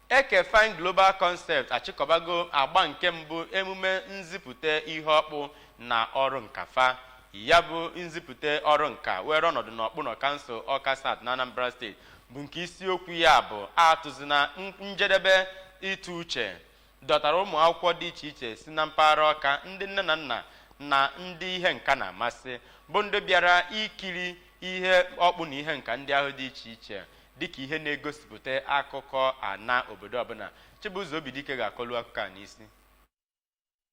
Ekefine Global Concept achịkọbago agba nke mbụ emume nzipụta ihe ọkpụ na ọrụ nka fa. Ya bụ nzipụta ọrụ nka were ọnọdụ n'Ọkpụnọ Kansụl Ọka South na Anambra Steeti bụ nke isiokwu ya bụ atụzina njedebe ịtụ uche dọtara ụmụ akwụkwọ dị iche iche si na mpaghara Ọka ndị nne na nna na ndị ihe nka na-amasị bụ ndị bịara ikiri ihe ọkpụ na ihe nka ndị ahụ dị iche iche dịka ihe na-egosipụta akụkọ ana obodo ọbụna Chibụzọ Obidike ga-akọlu akụkọ a n'isi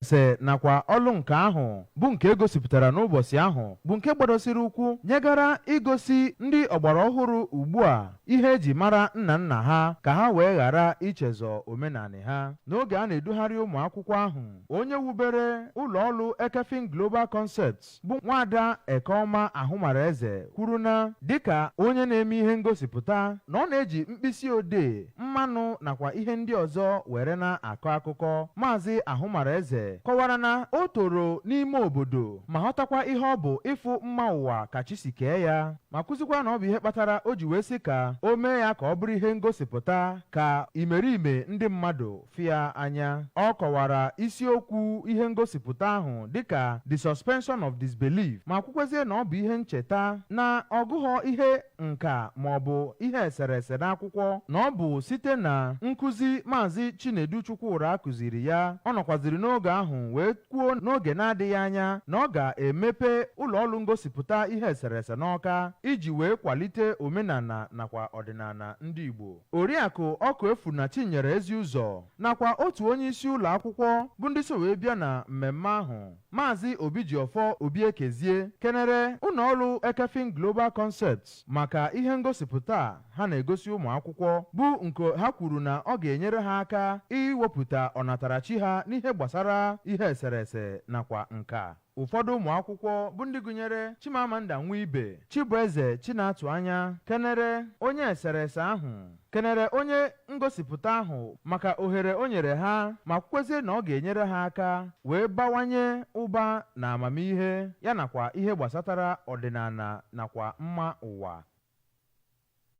sị nakwa ọlụ nka ahụ bụ nke egosipụtara n'ụbọsị ahụ bụ nke gbadosiri ụkwụ nyegara igosi ndị ọgbara ọhụrụ ugbu a ihe eji mara nna nna ha ka ha wee ghara ichezọ omenanị ha n'oge a na-edugharị ụmụ akwụkwọ ahụ onye wubere ụlọ ọlụ Ekefine Global Concept bụ nwaada Ekeọma Ahụmaraeze kwuru na dịka onye na-eme ihe ngosipụta na ọ na-eji mkpịsị odee mmanụ nakwa ihe ndị ọzọ were na-akọ akụkọ maazị Ahụmaraeze kọwara na o toro n'ime obodo ma ghọtakwa ihe ọ bụ ịfụ mma ụwa ka chi si kee ya ma kwuzikwa na ọ bụ ihe kpatara o ji wee sị ka o mee ya ka ọ bụrụ ihe ngosipụta ka imerime ndị mmadụ fụ ya anya. Ọ kọwara isiokwu ihe ngosipụta ahụ dịka The Suspension of Disbelief ma kwukwezie na ọ bụ ihe ncheta na ọ gụghọ ihe nka ma ọ bụ ihe eserese n'akwụkwọ na ọ bụ site na nkụzi Maazị Chinedu Chukwura kụziri ya ọ nọkwaziri n'oge ahụ wee kwuo n'oge na-adịghị anya na ọ ga-emepe ụlọ ọlụ ngosipụta ihe eserese n'Ọka iji wee kwalite omenana nakwa ọdịnana ndị Igbo Oriakụ Ọkụefuna Chinyere Eziụzọ nakwa otu onye isi ụlọ akwụkwọ bụ ndị so wee bịa na mmemme ahụ Maazị Obijiọfọ Obiekezie kenere ụnọ ọlụ Ekefine Global Concept maka ihe ngosipụta a ha na-egosi ụmụ akwụkwọ bụ nke ha kwuru na ọ ga-enyere ha aka iwepụta ọnatarachi ha n'ihe gbasara ihe eserese nakwa nka ụfọdụ ụmụ akwụkwọ bụ ndị gụnyere Chimamanda Nwibe Chibueze Chinatụ Anya kenere onye eserese ahụ kenere onye ngosipụta ahụ maka ohere o nyere ha ma kwukwezie na ọ ga-enyere ha aka wee bawanye ụba na amamihe ya nakwa ihe gbasatara ọdịnana nakwa mma ụwa